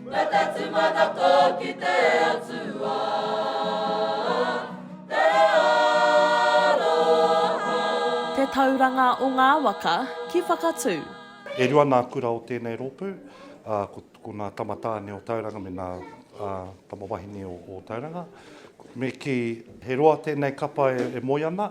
Ngā te tūmanako ki te Atua, te aroha. Te tauranga o ngā waka ki Whakatū. E rua nā kura o tēnei rōpū, ā, ko nā Tama Tāne o Tauranga me nā Tama Wahine o Tauranga. Me kī, he roa tēnei kapa e moe ana,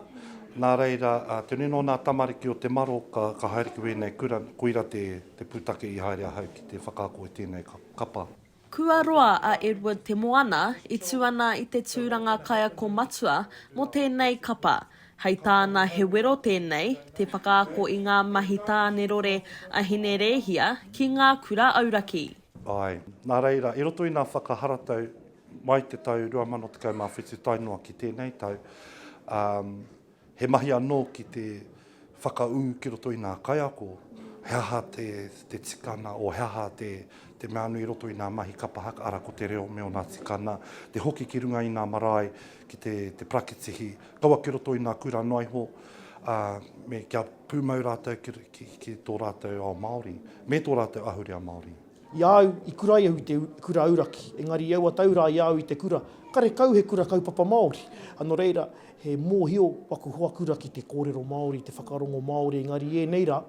nā reira, te nui nō nā tamariki o te maro ka haere ki wēnei kura, koira te. Te pūtake i haere ahau ki te whakaako i tēnei kapa. Kua roa a Edward Te Moana i tū ana i te tūranga kaiako matua mō tēnei kapa. Hei tāna he wero tēnei te whakaako i ngā mahi tānerore a Hine Rēhia ki ngā kura auraki. Āe, nā reira, i roto i ngā whakaharatau mai te tau 2017 tae noa ki tēnei tau, ā, He mahi anō ki te whakaū ki roto i ngā kaiako, he aha te tikanga, o he aha te mea nui i roto i ngā mahi kapa haka, ara ko te reo me ōna tikanga, te hoki ki runga i ngā marae ki te parakitihi, kaua ki roto i ngā kura noa iho, ā, me kia pūmau rātou ki tō rātou ao Māori, me tō rātou ahurea Māori. I a au, i kura ai au i te kura auraki, engari i aua tau rā i a au i te kura, karekau he kura kaupapa Māori. Nō reira, he mōhio waku hoa kura ki te kōrero Māori, te whakarongo Māori, engari i ēnei rā,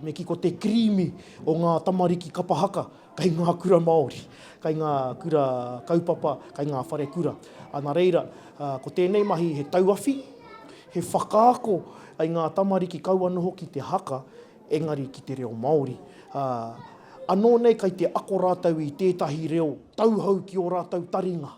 me kī ko te kirīmi o ngā tamariki kapa haka kei ngā kura Māori, kei ngā kura kaupapa, kei ngā wharekura. Nā reira, ko tēnei mahi he tauawhi, he whakaako i ngā tamariki kaua noho ki te haka, engari ki te reo Māori, ā, anō nei kai te ako rātou i tētahi reo tauhou ki ō rātou taringa.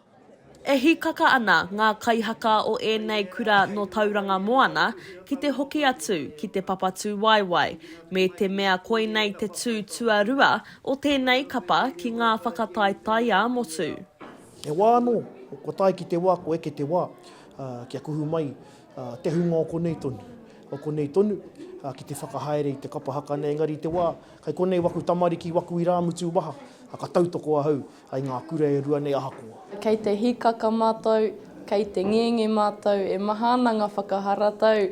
E hīkaka ana ngā kaihaka o ēnei kura nō Tauranga Moana ki te hoki atu ki te Papatūwaewae, me te mea koinei te tū tuarua o tēnei kapa ki ngā whakataetae ā-motu. He wā anō, kua tae ki te wā, kua eke te wā, ā, kia kuhu mai Te hunga o konei tonu, o konei tonu, ki te whakahaere i te kapa haka nei, engari i te wā, kai konei waku tamariki, waku irāmutu waha, ka tautoko ahau i ngā kura e rua nei ahakoa. Kei te hikaka mātou, kei te ngenge mātou, e maha ana ngā whakaharatau,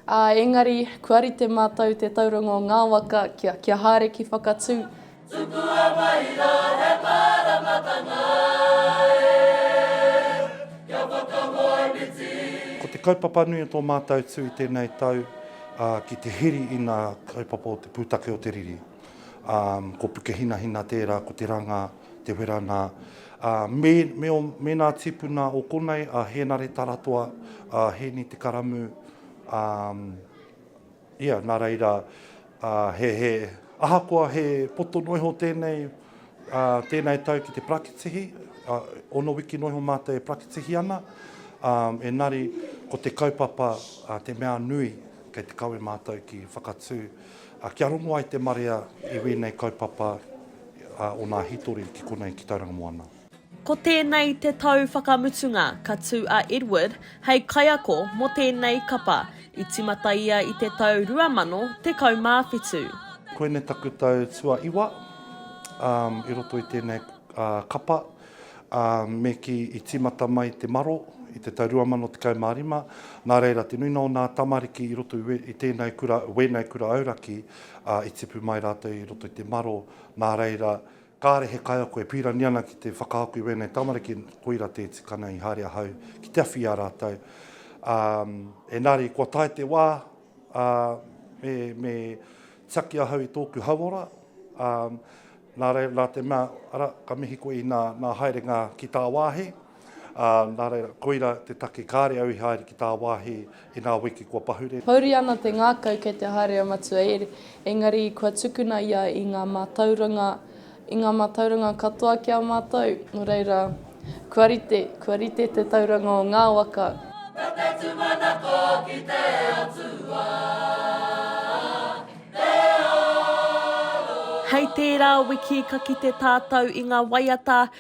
ā, engari kua rite mātou te tauranga o ngā waka kia haere ki Whakatū, Tukua mai rā he māramatanga e, kia whakahoemiti. Ko te kaupapa nui o tō mātou tū i tēnei tau ki te heri i ngā kaupapa o te pūtake o te riri. Ko Pukehinahina tērā, ko Te Ranga, Te Whera nā. Mēnā tīpuna o konei a Hēnare Taratoa, a Hēni Te Karamū, Ia, nā reira, he, ahakoa he poto noa iho tēnei, tēnei tau ki te parakitihi, ono wiki noa iho mātou e parakitihi ana, engari ko te kaupapa te mea nui kei te kawe mātou ki whakatū, kia rongo ai te marea i wēnei kaupapa o nā hītori ki konei ki Tauranga Moana. Ko tēnei te tau whakamutunga ka tū a Edward hei kaiako mō tēnei kapa, i timata ia i te tau 2017. Koinei taku tau tuaiwa i roto i tēnei kapa, me kī i tīmata mai te maro i te tau 2015, nā reira te nuinga o nā tamariki i roto i tēnei kura, wēnei kura auraki i tipu mai rātou i roto i te maro, nā reira Kāre he kaiako e pīrani ana ki te whakaako i wēnei tamariki, koira te tikanga i haere ahau ki te awhi i a rātou. Ā, engari kua tae te wā, ā, me, me tiaki ahau i tōku hauora, ā, nā reira, nā te mea, ara, ka mihi koe inā nā haerenga ki tāwāhi, Ā, nā reira, koira te take kāre au i haere ki tāwāhi i ngā wiki kua pahure. Pouri ana te ngākau kei te haere a Matua Ere, engari kua tukuna ia i ngā mātauranga, i ngā mātauranga katoa ki a mātou, nō reira, kua rite, kua rite te tauranga o ngā waka. Ko te tūmanako ki te Atua, te aro. Hei tērā wiki ka kite tātou i ngā waiata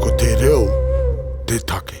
Ko te reo te take.